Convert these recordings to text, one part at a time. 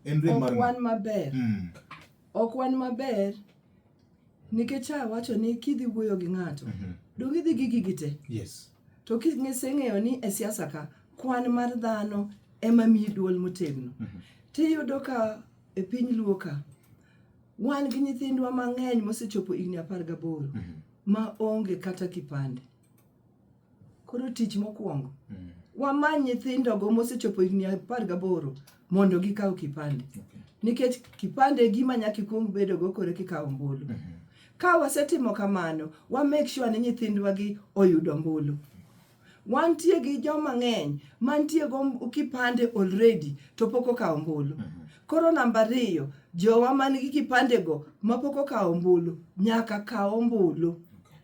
En rem mar ok wan maber mm. ok wan maber nikech awacho ni kidhi wuoyo gi ng'ato mm -hmm. donge idhi gi gigi te yes. to kiseng'eyo ni e siasa ka kwan mar dhano ema miyi duol motegno mm -hmm. tiyudo ka e piny luo ka wan gi nyithindwa mang'eny mosechopo higni apar gaboro mm -hmm. ma onge kata kipande koro tich mokwongo mm. wamany nyithindogo mosechopo higni apar gaboro mondo gikaw kipande okay. nikech kipande gima nyaka ikwong bedogo kore kikawo ombulu mm -hmm. ka wasetimo kamano wa make sure ni nyithindwagi oyudo ombulu wantie gi joma ng'eny mantie go kipande already to pok okawo ombulu mm -hmm. koro namba ariyo jowa man gi kipandego mapok okawo ombulu nyaka kaw ombulu okay.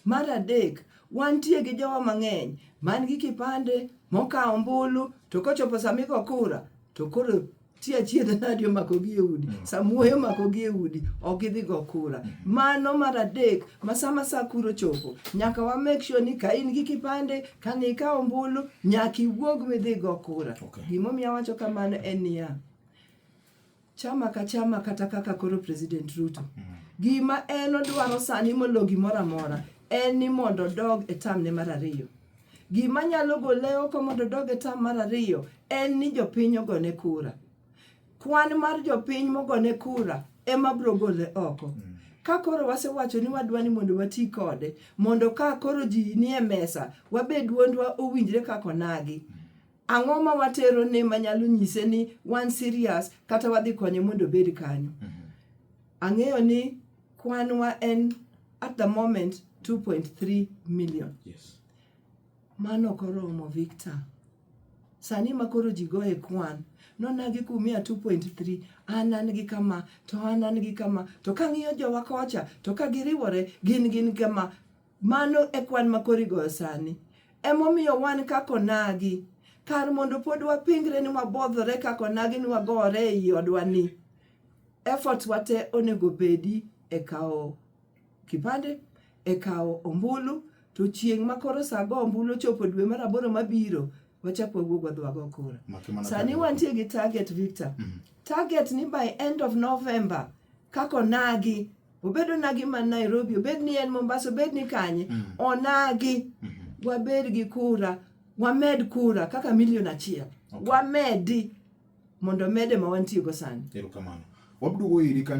Mar adek, wantie gi jowa mang'eny man gi kipande mokawo ombulu to kochopo sama igo kura to koro ti achiedh nadi omakogi e udi mm. samuoyo omakogi e udi ok gidhi go kura mm. mano mar adek ma sama sa kuro chopo nyaka wa make sure ni ka in gi kipande ka ng'i ka ombulu nyaka iwuog midhi go kura okay. gimomiyo awacho kamano en niya Chama ka chama kata kaka koro President Ruto. Mm. Gima en odwaro sani molo gimoro amora en ni mondo odog e tam ne mar ariyo. Gima nyalo gole oko mondo odog e tam mar ariyo en ni jopiny ogone kura. Kwan mar jopiny mogone kura ema bro gole oko. Mm. ka koro wasewacho ni wadwa ni mondo wati kode mondo ka koro ji nie mesa wabed duondwa owinjre kaka onagi Ang'o ma watero ne manyalo nyise ni wan serious kata wadhi konye mondo obed kanyo? Mhm. Ang'eyo ni kwanwa en at the moment 2.3 million. Yes. Mano koromo Victor. Sani ma koro ji goye kwan, nonagi kumia 2.3, an an gi kama, to an an gi kama, to kang'iyo jowa kocha, to ka giriwore, gin gin kama. Mano e kwan ma koro igoyo sani. Emomiyo wan kaka onagi. Kar mondo pod wapingre ni wabodhore kaka onagi ni wagore e i odwa ni, efforts wa te onego bedi e kawo kipande, e kawo ombulu, to chieng' ma koro sa go ombulu ochopo dwe mar aboro mabiro, wachak wawuog wadhi wago kura. Maki mana Sani target. wantie gi target Victor. Target ni by end of November kaka onagi obed onagi man nairobi obed ni en mombasa obed ni kanye mm. onagi mm -hmm. wabed gi kura wamed kura kaka milion achiel okay. wamedi mondo mede ma wantiego sani erokamano wabdugo iri kanyo